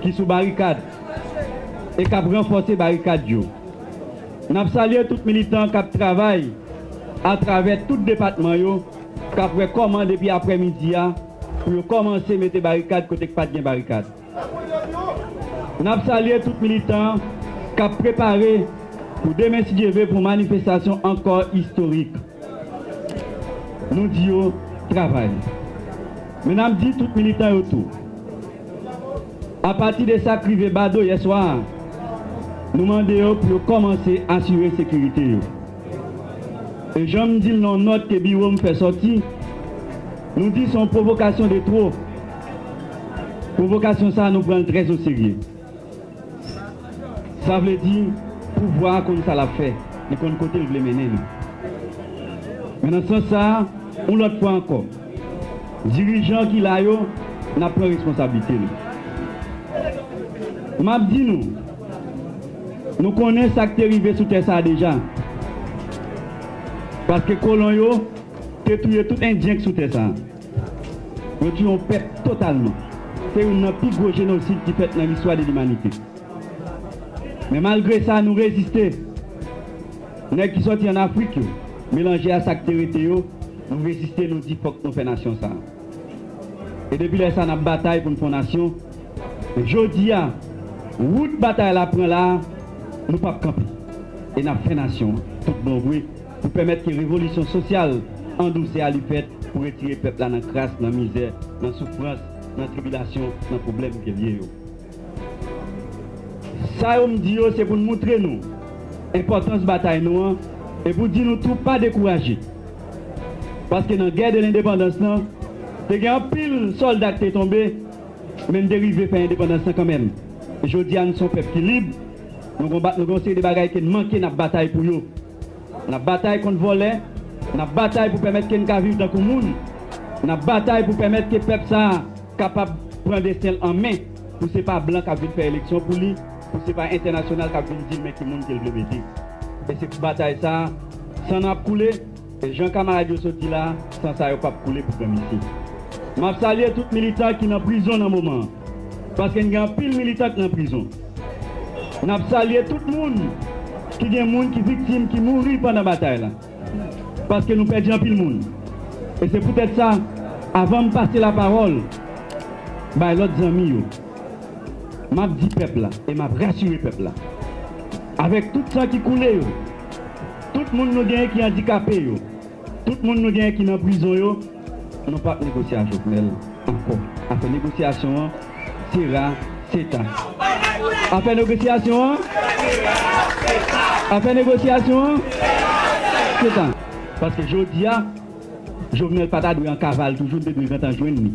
ki sou barikad e kap ranfòse barikad yo. Nap salye tout militan kap travay atravè tout depatman yo kap wè kòman depi aprè midi a pou yo kòmanse mete barikad kote k pat gen barikad. N ap salye tout militan k ap prepare pou demen si Dye ve pou manifestasyon ankò istorik. Nou di yo travay. Men n ap di tout militan yo tou, apati de sa k rive Badoo yè swa a, nou mande yo pou yo kòmanse asire sekirite yo. E jan m di l nan yon nòt ke biwo m fè sòti, nou di se yon pwovokasyon de two. Pwovokasyon sa nou pranl trè oserye. Sa vle di pouvwa a konn sa lap fè, li konn kotel vle mennen nou. Men nan sans sa, yon lòt fwa ankò, dirijan ki la yo nap pran responsablite nou. Map di nou, nou konnen sak te rive sou tè sa deja. Paske kolon yo te touye tout endyen k sou tè sa. Yo tiye yon pèp totalman. Se youn nan pi gwo jenosid ki fèt nan listwa de limanite. Men malgre sa nou reziste. Nèg ki sòti an Afrik yo, melanje a sa k te rete yo, nou reziste nou di fòk nou fè nasyon sa a. E depi lè sa n ap batay pou n fè yon nasyon. Men jodi a, wout batay la pran la a, nou p ap kanpe e n ap fè nasyon an tout bon vre. pou pèmèt ke revolisyon sosyal an dousè a li fèt pou retire pèp la nan kras, nan mizè, nan soufrans, nan tribilasyon, nan pwoblèm ke l ye yo. Sa yo m di yo se pou n moutre nou enpòtans batay nou an e pou di nou tou pa dekouraje. Paske nan gè de lendepandans lan, te gen anpil sòlda k te tonbe, men n te rive fè endepandans lan kanmèm. Jodi a n s on pèp ki lib, nou gon ba, nou gen yon seri de bagay ke n manke n ap batay pou yo. N ap batay kont vòlè, n ap batay pou pèmèt ke n ka viv tankou moun, n ap batay pou pèmèt ke pèp sa a kapab pran desten l an men, pou se pa blan k ap vin fè eleksyon pou li, pou se pa entènasyonal k ap vin di l men ki moun ke l vle mete. E se pou batay sa a, san nou ap koule, e jan kamarad yo sot di la a, san sa yo p ap koule pou granmesi. M ap salye tout militan ki nan prizon nan moman an. paske n gen anpil militan k nan prizon. N ap salye tout moun ki gen moun ki viktim ki mouri pandan batay la, paske nou pèdi anpil moun. E se poutèt sa, avan m pase lapawòl bay lòt zanmi yo, m ap di pèp la e m ap rasire pèp la, avèk tout san ki koule yo, tout moun nou gen ki andikape yo, Tout moun nou gen ki nan prizon yo nou pap negosye a Jovenel ankò afè negosyasyon an se ra se ta afè negosyasyon an se ra se ta afè negosyasyon an se ra se ta paske jodia Jovenel pata dwe an kaval toujou li te dwe gentan jwenn li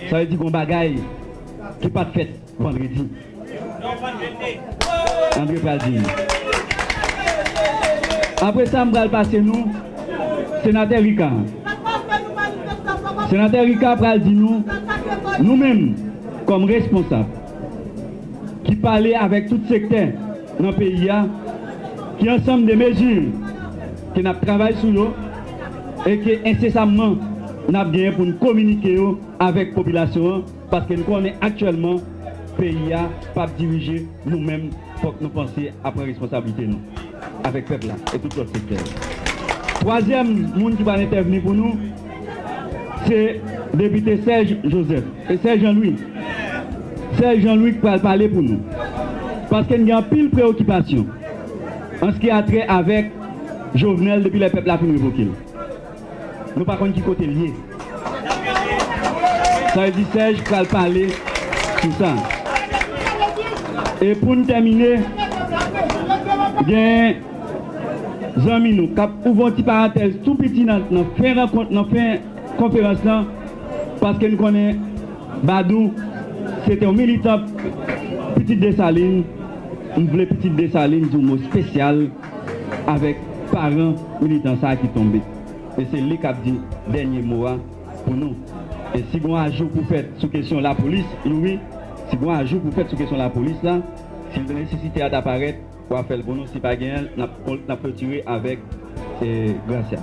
sa vle di gon bagay ki pat fèt. Vandredi. Andre pral di nou. Apre sa m pral pase nou Senatè Rika. Senatè Rika pral di nou, nou menm kòm responsab ki pale avèk tout sektè nan peyi a, ki ansanm de mezi ke n ap travay sou yo e ke ensesamman n ap genyen pou n kominike yo avèk popilasyon an. Paske n konnen aktyèlman peyi a pa ap dirije nou menm fòk nou panse a pran responsablite nou avèk pèp la e tout lòt sektè yo. Twazyèm moun ki pral entèvni pou nou se depite Serge Joseph e Serge Jean Louis Serge Jean Louis k pral pale pou nou paske n gen anpil preokipasyon an s ki a trè avèk Jovenel depi lè pèp la fin revoke l. Nou pa konn ki kote l ye. Sa vle di Sèj pral pale sou sa. E pou n tèmine, gen zanmi nou k ap ouvè yon ti parantèz tou piti nan fen rankont, nan fen konferans lan, paske n konnen Badou se te yon militan Pitit Desalin. M vle Pitit Desalin di yon mo spesyal. avèk paran militan sa ki tonbe e se li kap di dènye mo a pou nou e si gon ajou pou fèt sou kesyon lapolis Youri si gon ajou pou fèt sou kesyon lapolis la si nesesite a ta parèt wa fèl pou nou si pa genyenl nap klotire avèk Gracia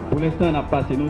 pou lenstan nap pase nou.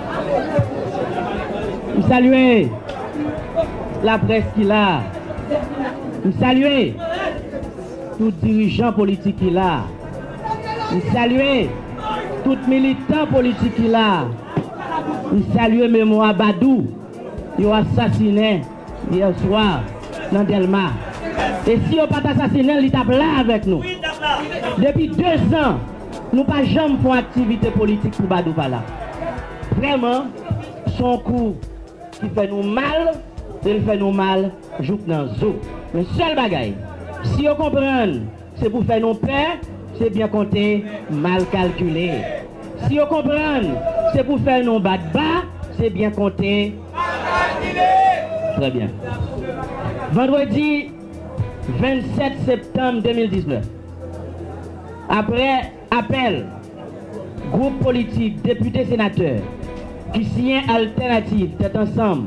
M salye laprès ki la a. M salye tout dirijan politik ki la a. M salye tout militan politik ki la a. M salye memwa Badou yo asasinen yè swa nan Dèlma. E si yo pa t asasinen l, li t ap la avèk nou. Depi dezan. Nou pa janm fon aktivite politik pou badou pa la. Vrèman, son kou ki fè nou mal e l fè nou mal jouk nan zo. Men sèl bagay, si yo konprann se pou fè nou pè, se byen konte, mal kalkile. Si yo konprann se pou fè nou bat ba, se byen konte, mal kalkile. Trè byen. Vandredi 27 septanm 2019. Aprè apèl gwoup politik depite senatè ki siyen altènativ tèt ansanm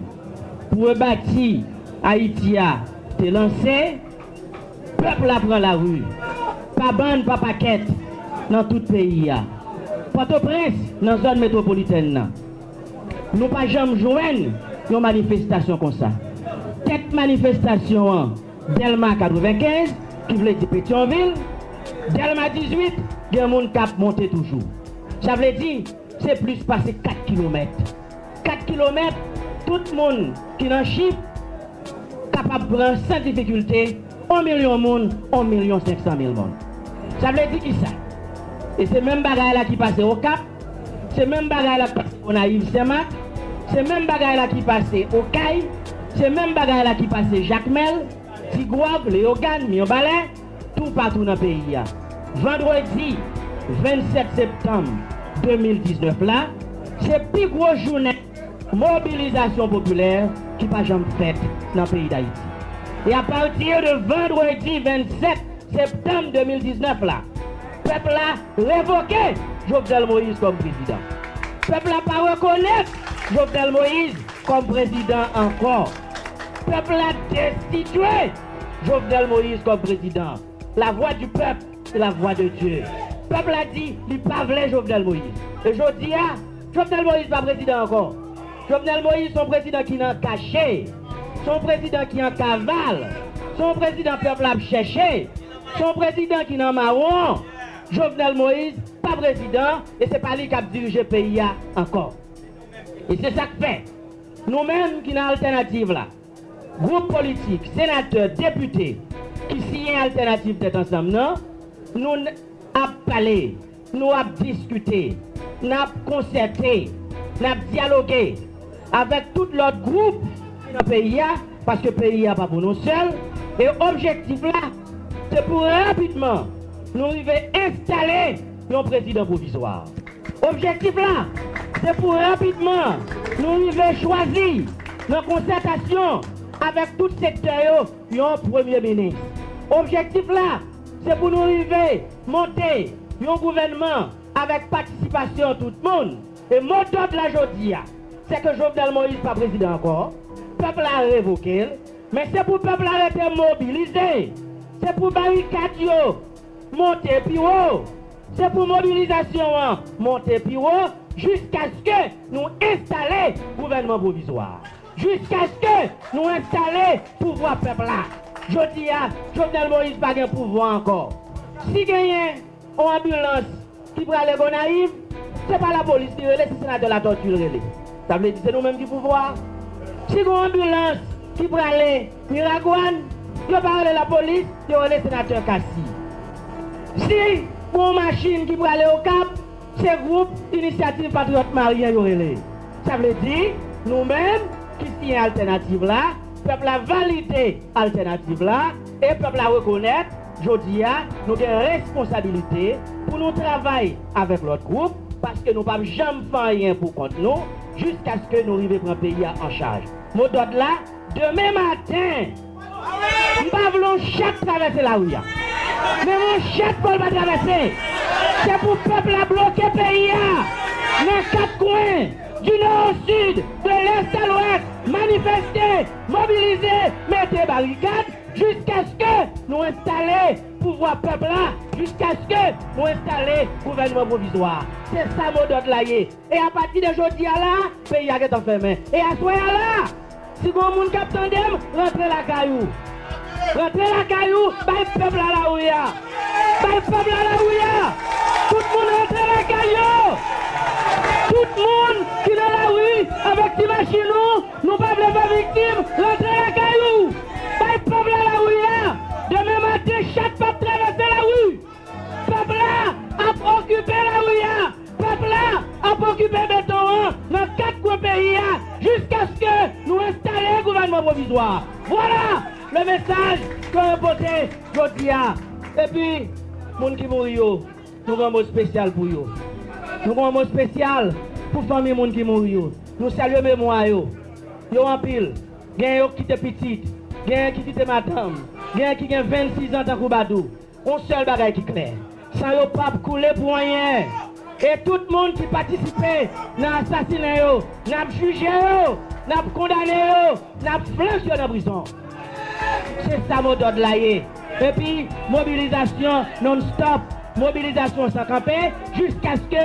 pou rebati Ayiti a te lanse, pèp la pran lari pa bann pa pakèt nan tout peyi a. Pòtoprens nan zòn metwopolitèn nan nou pa janm jwenn yon manifestasyon konsa. Tèt manifestasyon an. Dèlma 95, ki vle di Petyonvil, Dèlma 18, gen moun k ap monte toujou. Sa vle di, se plis pase 4 kilomèt. 4 kilomèt, tout moun ki nan chif kapab pran san difikilte on milyon moun, on milyon senk san mil moun. Sa vle di kisa? E se menm bagay la ki pase Okap. Se menm bagay la k pase Gonayiv Senmak, se menm bagay la ki pase Okay, se menm bagay la ki pase Jakmèl, Tigwav, Leyogàn, Mirbalè, toupatou nan peyi a. Vandredi 27 septanm 2019 la, se pi gwo jounen mobilizasyon popilè ki pa janm fèt nan peyi Dayiti. E apati de vandredi 27 septanm 2019 la, Pèp la revoke Jovenel Moïse kòm prezidan. Pèp la pa rekonèt Jovenel Moïse kòm prezidan ankò. Pèp la destitye Jovenel Moïse kòm prezidan. La voix du peuple c'est la voix de Dieu. Pèp la di li pa vle Jovenel Moïse. E jodi a, Jovenel Moïse pa prezidan ankò. Jovenel Moïse son prezidan ki nan kache. Son prezidan ki an kaval. Son prezidan pèp la ap chèche. Son prezidan ki nan mawon. Jovenel Moïse pa prezidan e se pa li kap dirije peyi a ankò. E se sak fè nou menm ki nan altènativ la, gwoup politik, senatè, depite ki siyen altènativ tèt ansanm nan, nou n ap pale. Nou ap diskite, n ap konsète, n ap dyaloge avèk tout lòt gwoup ki nan peyi a, paske peyi a pa pou nou sèl, e objektif la se pou rapidman nou rive enstale yon prezidan pwovizwa. Objektif la se pou rapidman nou rive chwazi nan konsètasyon avèk tout sektè yo yon premye minis. Objektif la se pou nou rive. Monte yon gouvènman avèk patisipasyon tout moun e mo dòd la jodi a se ke Jovenel Moïse pa prezidan ankò, pèp la revoke l, men se pou pèp la rete mobilize, se pou barikad yo monte pi wo, se pou mobilizasyon an monte pi wo jiskaske nou enstale gouvènman pwovizwa a. Jiskaske nou enstale pouvwa pèp la. Jodi a, Jovenel Moïse pa gen pouvwa ankò. Si genyen on anbilans ki prale Gonayiv, se pa lapolis li rele, se Senatè Latortue l rele. Sa vle di se nou menm ki pouvwa a. Si gon anbilans ki prale Miragwàn, yo pa rele lapolis, yo rele Senatè Cassy. Si gon on machin ki prale Okap, Se gwoup Inisyativ Patriyòt Maryen yo rele. Sa vle di, nou menm ki siyen altènativ la, pèp la valide altènativ la e pèp la rekonèt jodi a nou gen responsabilite pou nou travay avèk lòt gwoup paske nou pap janm fè anyen pou kont nou jiskaske nou rive pran peyi a an chaj. Modòd la, demen maten! M pa vle yon chat travèse lari a. Menm yon chat vòl pa travèse. Se pou pèp la bloke peyi a nan kat kwen, di nò o sid, de lès a lwès, manifeste, mobilize, mete barikad jiskaske nou enstale pouvwa pèp la, jiskaske nou enstale gouvènman pwovizwa a. Se sa modòd la ye. E apati de jodi a la, peyi a gentan fèmen. E aswè a la, Si gon moun kap tandem rantre lakay ou rantre lakay ou bay pèp la lawi a bay pèp la lawi a tout moun rantre lakay yo tout moun ki nan lawi avèk ti machin nou nou pa vle fè viktim rantre lakay ou bay pèp la lawi a demen maten chat pap travèse lawi. Pèp la ap okipe lari a, pèp la ap okipe beton an nan kat kwen peyi a jiskaske nou enstale gouvènman pwovizwa a. Vwala le mesaj ke mwen pote jodi a. Epi moun ki mouri yo, nou gen yon mo spesyal pou yo. Nou gen yon mo spesyal pou fanmi moun ki mouri yo. Nou salye memwa yo. Yo anpil. Genyen yo ki kite pitit, genyen ki kite madanm, genyen ki gen 26 zan tankou Badou. On sèl bagay ki klè, san yo pap koule pou anyen. E tout moun ki patisipe nan asasinen yo, n ap jije yo, n ap kondane yo, n ap flank yo nan prizon. Se sa mo dòd la ye. Epi mobilizasyon non stop, mobilizasyon san kanpe jiskaske.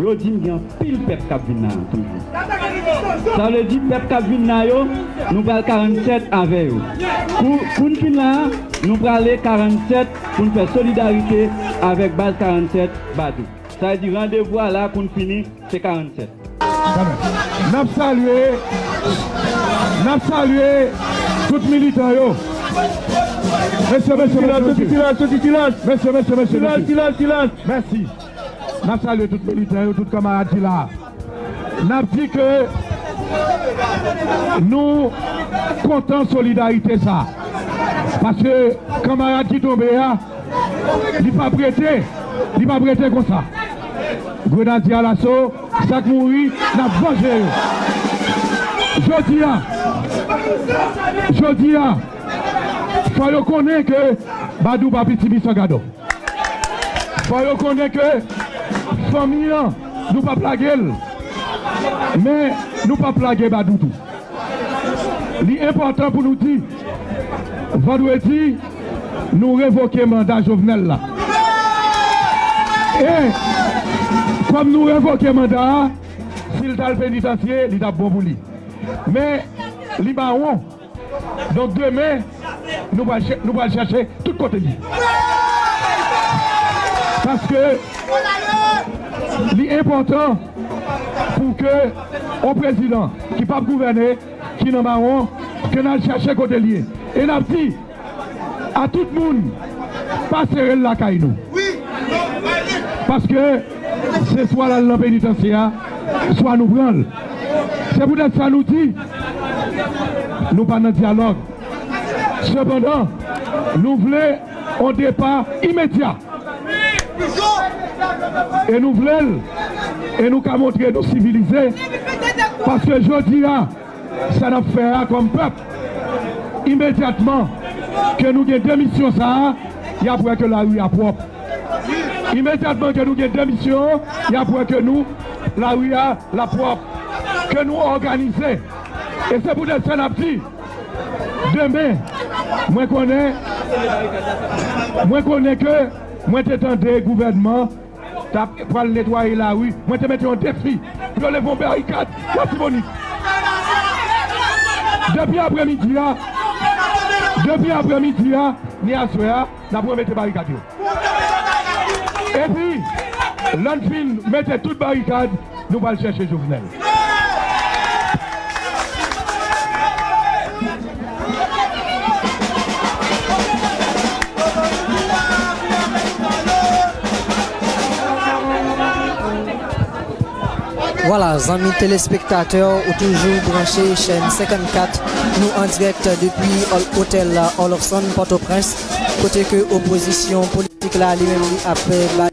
Yo di m gen anpil pèp k ap vin la a toujou. Sa vle di pèp k ap vin la yo, nou pral 47 avè yo. Kou n fin la a, nou prale 47 pou n fè solidarite avèk baz 47 Badou. Sa vle di randevou a la a kou n fini se 47. N ap salye, n ap salye tout militan yo. Mesye, mesye, mesye, mesye. Silans, silans, silans. Mesye, mesye, mesye, mesye. Silans, silans, silans. Mèsi. N ap salye tout militè yo, tout kanmarad ki la a. N ap di ke nou kontan solidarite sa a. Paske kanmarad ki tonbe a, li pa p rete, li pa p rete konsa. Grenadye alaso, sa k mouri, n ap vanje yo. Jodi a, jodi a, fò yo konnen ke Badou pa piti Bisangadò. Fò yo konnen ke fanmi an nou pap lage l men nou pap lage Badou tou. Li enpòtan pou nou di vandredi nou revoke manda Jovenel la e kòm nou revoke manda a si l t al penitansye li t ap bon pou li men li mawon. Donk demen nou pral nou pral chèche tout kote li paske li enpòtan pou ke yon prezidan ki pap gouvène ki nan mawon ke n al chèche kote li ye e n ap di A tout moun pa serel lakay nou paske se swa lal nan penitansye a swa nou pranl se pou tèt sa nou di nou pa nan dyalòg sepandan nou vle on depa imedya e nou vlel e nou ka montre nou sivilize paske jodi a. sa nap fè a kòm pèp imedyatman ke nou gen demisyon sa a yap wè ke lari a pwòp imedyatman ke nou gen demisyon yap wè ke nou lari a lap pwòp ke nou òganize e se poutèt sa nap di demen mwen konnen mwen konnen ke mwen te tande gouvènman. Tap pral netwaye lari, mwen te mete yon defi pou yo leve yon barikad Latibonit. Depi aprè midi a, depi aprè midi a, ni aswè a, nap remete barikad yo. Epi, lè n fin mete tout barikad, Nou pral chèche Jovenel. Vwala zanmi telespektatè ou toujou branche chèn 54 nou an dirèk depi otèl Olofson Pòtoprens kote ke opozisyon politik la li menm li ap bay